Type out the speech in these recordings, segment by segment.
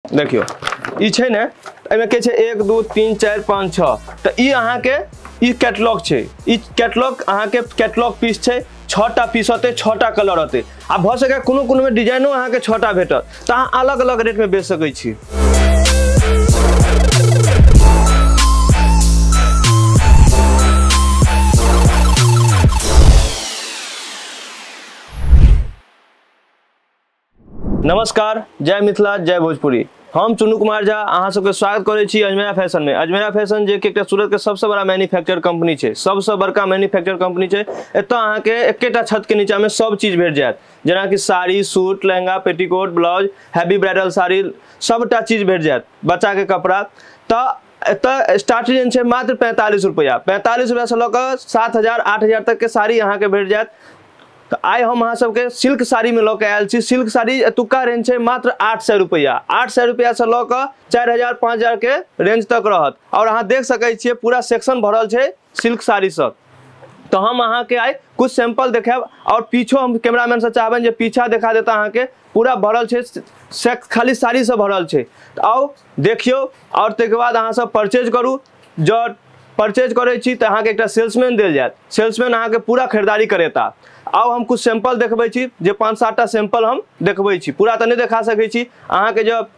देखियो ई छै ने एहिमे के छै एक दू तीन चारि पाँच छओ तऽ ई अहाँके ई कैटलॉग छै ई कैटलॉग अहाँके कैटलॉग पीस छै छओटा पीस होतै छओटा कलर होतै आ भऽ सकै कोनो कोनोमे डिजाइनो अहाँके छओटा भेटत तऽ अहाँ अलग अलग रेटमे बेच सकै छी नमस्कार जय मिथिला जय भोजपुरी हम चुनू कुमार झा अहाँ सबके स्वागत करै छी अजमेरा फैशन में अजमेरा फैशन जे कि एकटा सूरत के सबसे बड़ा मैन्युफैक्चर कंपनी छै सबसे बड़का मैन्युफैक्चर कंपनी छै एतय अहाँ के एकेटा छत के नीचा में सब चीज भेट जायत जेना कि sari suit lehenga petticoat blouse heavy bridal sari सबटा चीज भेट जायत बच्चा के कपड़ा तऽ एतय स्टार्ट रेंज छै मात्र पैंतालीस रुपैआ पैंतालीस रुपैआ से लऽ कऽ सात हजार आठ हजार तक के साड़ी अहाँ के भेट जायत तऽ आइ हम अहाँ सबके सिल्क साड़ीमे लऽ कऽ आयल छी सिल्क साड़ी एतुक्का रेंज छै मात्र आठ सए रुपैआ आठ सए रुपैआसँ लऽ कऽ चारि हजार पाँच हजारके रेंज तक रहत आओर अहाँ देख सकै छियै पूरा सेक्शन भरल छै सिल्क साड़ीसँ तऽ हम अहाँके आइ कुछ सैंपल देखायब आओर पीछो हम कैमरामैनसँ चाहबनि जे पीछा देखा देता अहाँके पूरा भरल छै से खाली साड़ीसँ भरल छै तऽ आउ देखियौ आओर ताहिके बाद अहाँसभ परचेज करू जँ परचेज करै छी तऽ अहाँके एकटा सेल्समैन देल जायत सेल्समैन अहाँके पूरा खरीदारी करेता आउ हम किछु सैंपल देखबै छी जे पाँच सातटा सैंपल हम देखबै छी पूरा तऽ नहि देखा सकै छी अहाँके जब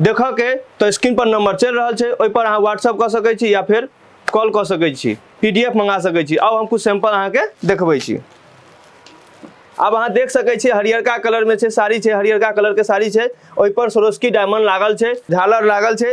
देखऽके तऽ स्क्रीनपर नम्बर चलि रहल छै ओहिपर अहाँ व्हाट्सअप कऽ सकै छी या फेर कॉल कऽ सकै छी पी डी एफ मङ्गा सकै छी आउ हम किछु सैंपल अहाँके देखबै छी आब अहाँ देख सकै छियै हरियरका कलरमे छै साड़ी छै हरियरका कलरके साड़ी छै ओहिपर सरोस्की डायमंड लागल छै झालर लागल छै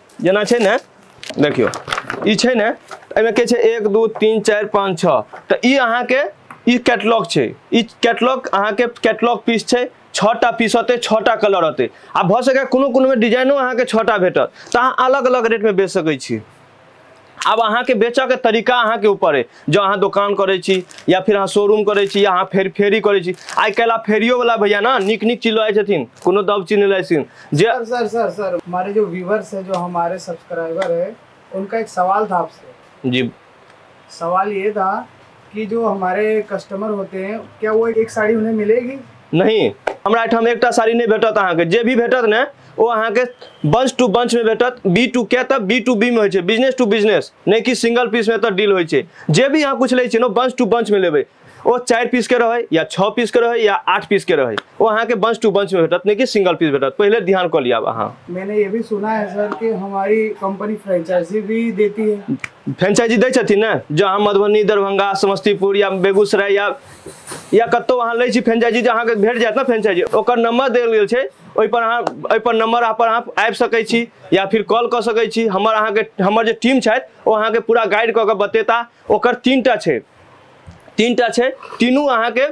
जेना छै ने देखियौ ई छै ने एहिमे के छै एक दू तीन चारि पाँच छओ तऽ ई अहाँके ई कैटलॉग छै ई कैटलॉग अहाँके कैटलॉग पीस छै छओटा पीस होतै छओटा कलर होतै आ भऽ सकैए कोनो कोनोमे डिजाइनो अहाँके छओटा भेटत तऽ अहाँ अलग अलग रेटमे बेच सकै छी आब अहाँके बेचऽके तरीका अहाँके ऊपर अइ जँ अहाँ दोकान करै छी या फेर अहाँ शोरूम करै छी या अहाँ फेर फेरी करै छी आइ काल्हि आब फेरियोवला भैया ने नीक नीक चीज लऽ जाइ छथिन कोनो दब चीज नहि लऽ जाइ छथिन जे सर सर सर सर हमारे जो व्यूवर्स है जो हमारे सब्सक्राइबर है उनका एक सवाल था आपसे जी सवाल ये था कि जो हमारे कस्टमर होते हैं क्या वो एक साड़ी उन्हें मिलेगी नहीं हमरा एहिठाम एकटा साड़ी नहि भेटत अहाँके जे भी भेटत ने ओ अहाँके बंच टू बंच में भेटत बी टू के तब बी टू बी में होइ छै बिजनेस टू बिजनेस नहि कि सिंगल पीस में तऽ डील होइ छै जे भी अहाँ कुछ लै छियै ने बंच टू बंच में लेबै ओ चारि पीस के रहै या छओ पीस के रहै या आठ पीस के रहै ओ अहाँके बंच टू बंच में भेटत नहि कि सिंगल पीस भेटत पहिले ध्यान कऽ लिअ आब अहाँ मैंने ये भी सुना है सर कि हमारी कंपनी फ्रेंचाइजी भी देती है फ्रेंचाइजी दै छथिन ने जँ अहाँ मधुबनी दरभंगा समस्तीपुर या बेगूसराय या या कतहु अहाँ लै छी फ्रेंचाइजी जे अहाँके भेट जायत ने फ्रेंचाइजी ओकर नंबर देल गेल छै ओहिपर अहाँ ओहिपर नंबर पर अहाँ आबि सकै छी या फिर कॉल कऽ सकै छी हमर अहाँके हमर जे टीम छथि ओ अहाँके पूरा गाइड कऽ कऽ बतेता ओकर तीन टा छै तीन टा छै तीनू अहाँके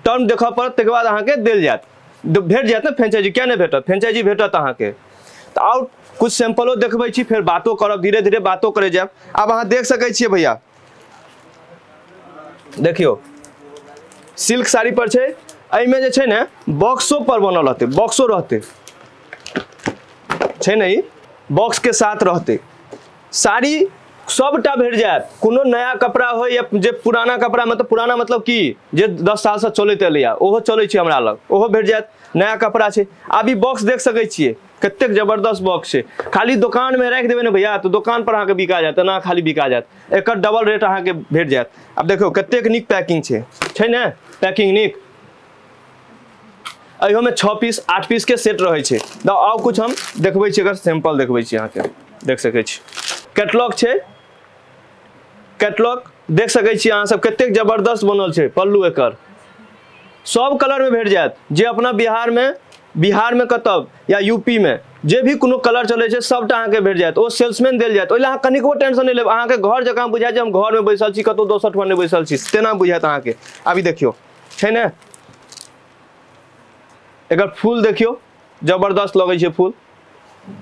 टर्म देखय पड़त ताहिके बाद अहाँके देल जायत भेट जायत ने फ्रेंचाइजी किया नहि भेटत फ्रेंचाइजी भेटत अहाँके तऽ आओर कुछ सैंपलो देखबै छी फेर बातो करब धीरे धीरे बातो करे जायब आब अहाँ देख सकै छियै भैया देखियौ सिल्क साड़ी पर छै एहिमे जे छै ने बॉक्सो पर बनल रहतै बॉक्सो रहतै छै ने ई बॉक्स के साथ रहतै साड़ी सबटा भेट जायत कोनो नया कपड़ा हो या जे पुराना कपड़ा मतलब पुराना मतलब की जे दस सालसँ चलैत एलैए ओहो चलै छै हमरा लग ओहो भेट जायत नया कपड़ा छै आब ई बॉक्स देख सकै छियै कतेक जबरदस्त बॉक्स छै खाली दोकानमे राखि देबै ने भैया तऽ दोकानपर अहाँके बिका जायत एना खाली बिका जायत एकर डबल रेट अहाँके भेट जायत आब देखियौ कतेक नीक पैकिंग छै छै ने पैकिंग नीक अयोमे छः पीस आठ पीस के सेट रहे छे द आउ कुछ हम देखबे छे अगर सैंपल देखबे छे यहाँ के देख सके छी कैटलॉग छे कैटलॉग देख सके छी अहाँ सब कतेक जबरदस्त बनल छे पल्लू एकर सब कलर में भेट जायत जे अपना बिहार में बिहार में कतब या यूपी में जे भी कोनो कलर चले छे सबटा अहाँ के भेट जायत ओ सेल्समैन देल जायत ओहि लए अहाँ कनिको टेंशन नहीं लेब अहाँ के घर जकाँ बुझायत जे हम घर में बैसल छी कतौ दोसर ठमा नहीं बैसल छी तेना बुझायत अहाँ के अभी देखियो छै ने एकर फूल देखियौ जबरदस्त लगै छै फूल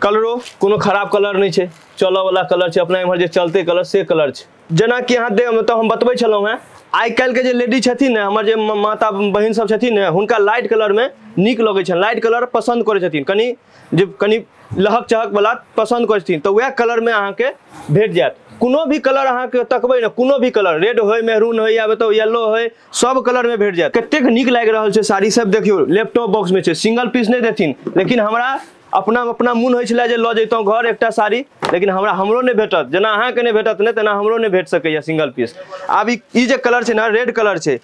कलरो कोनो खराब कलर नहि छै चलऽवला कलर छै अपना एम्हर जे चलते कलर से कलर छै जेनाकि अहाँ दे मतलब हम बतबै छलहुँ हेँ आइ काल्हिके जे लेडी छथिन ने हमर जे माता बहिन सब छथिन ने हुनका लाइट कलरमे नीक लगै छनि लाइट कलर पसन्द करै छथिन कनि जे कनि लहक चहक वाला पसंद करै छथिन तऽ वएह कलर में अहाँ के भेट जायत कोनो भी कलर अहाँ के तकबै ने कोनो भी कलर रेड होय मेहरून होय या बताउ येलो होय सब कलर में भेट जायत कतेक नीक लागि रहल छै साड़ी सब देखियो लैपटॉप बॉक्स में छै सिंगल पीस नहीं देथिन लेकिन हमरा अपना अपना मोन होइ छलै जे लऽ जैतहुँ घर एकटा साड़ी लेकिन हमरा हमरो नहि भेटत जेना अहाँके नहि भेटत ने तेना हमरो नहि भेट सकैए सिंगल पीस आब ई ई जे कलर छै ने रेड कलर छै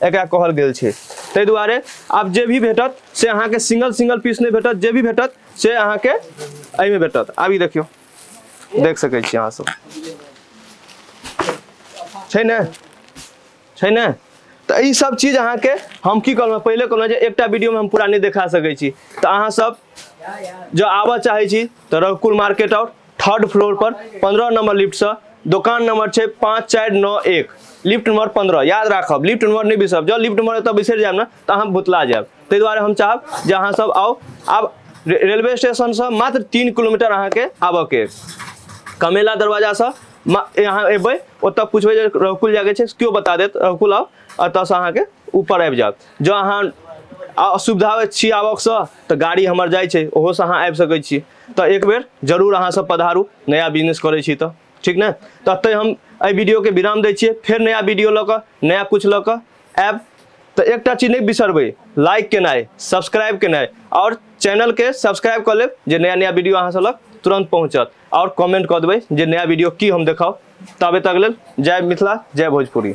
एकरा कहल गेल छै ताहि दुआरे आब जे भी भेटत से अहाँके सिंगल सिंगल पीस नहि भेटत जे भी भेटत से अहाँके एहिमे भेटत आब ई देखियौ देख सकै छी अहाँ सब छै ने छै ने तऽ ई सब चीज अहाँके हम की कहलहुँ पहिले कहलहुँ जे एकटा वीडियोमे हम पूरा नहि देखा सकै छी तऽ अहाँ सब जँ आबऽ चाहै छी तऽ रघुकुल मार्केट आउ थर्ड फ्लोर पर पंद्रह नंबर लिफ्ट से दोकान नंबर छै पाँच चारि नओ एक लिफ्ट नंबर पंद्रह याद राखब लिफ्ट नंबर नहि बिसरब जब लिफ्ट नंबर एतऽ बिसरि जायब ने तऽ अहाँ भुतला जायब ताहि दुआरे हम चाहब जे अहाँ सब आउ आब रे- रेलवे स्टेशन से मात्र तीन किलोमीटर अहाँके आबऽ के कमेला दरवाजा से मा- अहाँ एबै ओतऽ पूछबै जे रघुकुल जाके छै केओ बता देत रघुकुल आउ एतऽसँ अहाँके ऊपर आबि जायब जँ अहाँ आ- असुविधा छी आबक से तऽ गाड़ी हमर जाइ छै ओहोसँ अहाँ आबि सकै छी तऽ एक बेर जरूर अहाँ सब पधारू नया बिजनेस करै छी तऽ ठीक ने तऽ एतहि हम एहि वीडियोके विराम दै छियै फेर नया वीडियो लऽ कऽ नया किछु लऽ कऽ आयब तऽ एकटा चीज नहि बिसरबै लाइक केनाइ सब्सक्राइब केनाइ आओर चैनलके सब्सक्राइब कऽ लेब जे नया नया वीडियो अहाँ सब लग तुरन्त पहुँचत आओर कमेंट कऽ देबै जे नया वीडियो की हम देखाउ ताबे तक लेल जय मिथिला जय भोजपुरी